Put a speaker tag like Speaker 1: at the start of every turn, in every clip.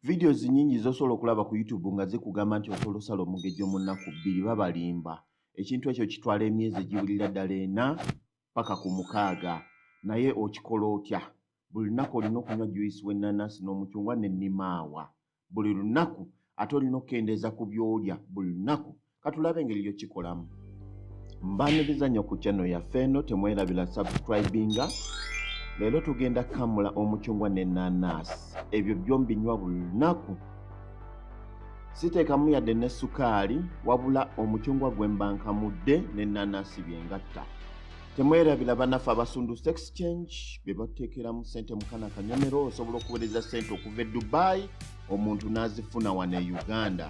Speaker 1: Vidiyo zinyingi zosobola okulaba ku YouTube nga zikugamba nti osobola osala omugejjo mu nnaku bbiri babalimba. Ekintu ekyo kitwala emyezi egiwulira ddala ena paka ku mukaaga. Naye okikola otya? Buli lunaku olina okunywa juyisi w'ennanasi n'omucungwa ne nimaawa buli lunaku ate olina okukendeeza ku byolya buli lunaku katulabe engeri yokikolamu mbaniriza nyo ku channel yaffe eno temwerabira subscribinga leero tugenda kamula omucungwa nenanaasi ebyo byombinywa buli lunaku siteekamu yadde ne sukaali wabula omucungwa gwe mbankamudde nenanaasi byengatta temwerabira banaffe abasundu sex change be bateekeramu ssente mukana kanyomero osobola okuweereza ssente okuva e dubai omuntu n'azifuna wano e uganda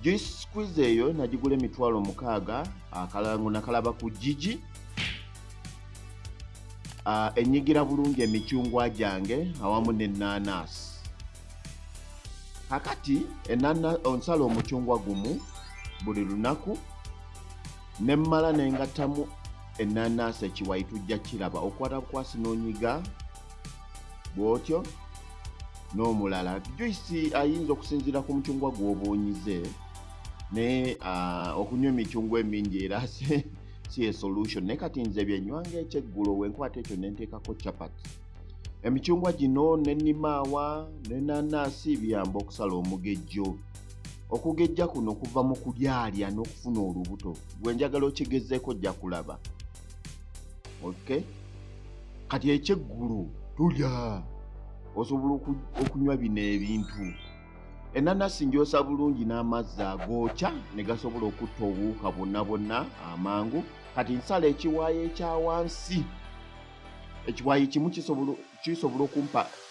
Speaker 1: juice squeeze eyo nagigula emitwalo mukaaga akalango nakalaba ku jiji uh, enyigira bulungi emicungwa gyange awamu nenanasi kakati enana onsala omucungwa gumu buli lunaku nemmala nengattamu enanasi ekiwayi tujja kiraba okwata bukwasi nonyiga bw'otyo n'omulala juyisi ayinza okusinziira ku mucungwa gw'obuunyize naye ah, okunywa emicungwa emingi era si esolution naye kati nze byenywanga ekyeggulo wenkwata ekyo nenteekako chapat emicungwa gino nenimaawa nenanaasi biyamba okusala omugejjo okugejja kuno kuva mu kulyalya n'okufuna olubuto gwe njagala okigezeeko ojja kulaba okay kati ekyeggulu tulya osobola okunywa bino ebintu enanasi njosa bulungi n'amazzi agookya ne gasobola okutta obuwuka bwonna bwonna amangu kati nsala ekiwaayo ekya wansi ekiwaayo kimu kisobola okumpa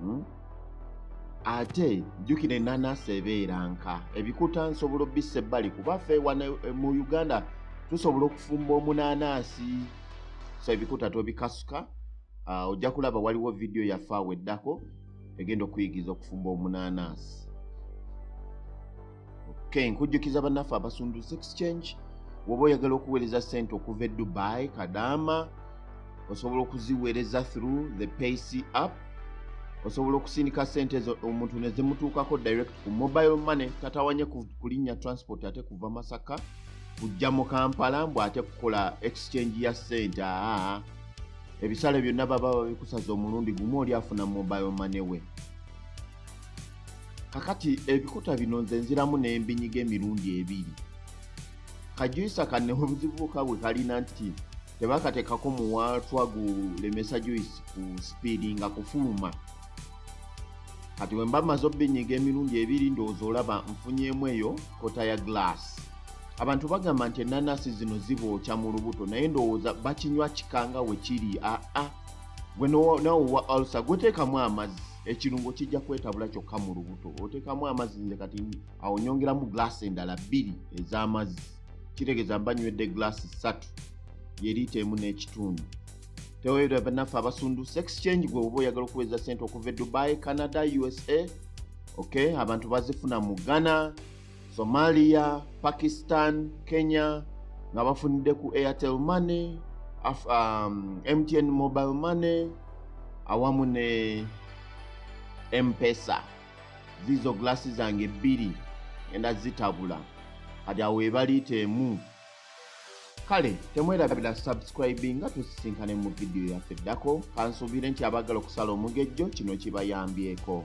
Speaker 1: hmm? ate jjukira enanasi ebeera nka ebikuta nsobola obissa ebbali kuba fe wana eh, mu uganda tusobola okufumba omunanasi so ebikuta tobikasuka ah, ojja kulaba waliwo vidiyo yaffe awo eddako egenda okuyigiza okufumba omunanasi okay nkujjukiza bannaffe abasunduse exchange woba oyagala okuweereza ssente okuva e dubai kadaama osobola okuziweereza through the payc app osobola okusindika ssente ezo omuntu ne zimutuukako direct ku mobile money tatawanye kulinnya transport ate kuva masaka kujja mu kampala mbu ate kukola exchange ya ssente aa ebisale byonna baba babikusaza omulundi gumu oli afuna mobile money we kakati ebikuta bino nze nziramu n'embinyiga emirundi ebiri kajuyisa kanne obuzibuuka bwe kalina nti tebakateekako muwaatwa gulemesa juyisi ku sipiidi nga kufuluma kati bwe mba maze obbinyiga emirundi ebiri ndowooza olaba nfunyeemu eyo kota ya gulaasi abantu bagamba nti enanasi zino zibookya mu lubuto naye ndowooza bakinywa kikanga we kiri aa ah, ah. gwe nawe wa alsa gweteekamu amazzi ekirungo kijja kwetabula kyokka mu lubuto oteekamu amazzi nze kati awo nyongeramu glaasi endala bbiri ez'amazzi kitegeeza mba nywedde glaasi ssatu yeriita emu n'ekitundu teweera banaffe abasundu sex change gwe oba oyagala okuweza sente okuva e dubai canada usa ok abantu bazifuna mu ghana Somalia, Pakistan, Kenya nga bafunidde ku Airtel Money, Af um, MTN Mobile Money awamu ne Mpesa. Zizo glasi zange bbiri enda zitabula kati awo webaliita emu kale temwerabira subscribing nga tusisinkane mu vidiyo yaffe eddako kansuubire nti abaagala okusala omugejjo kino kibayambyeko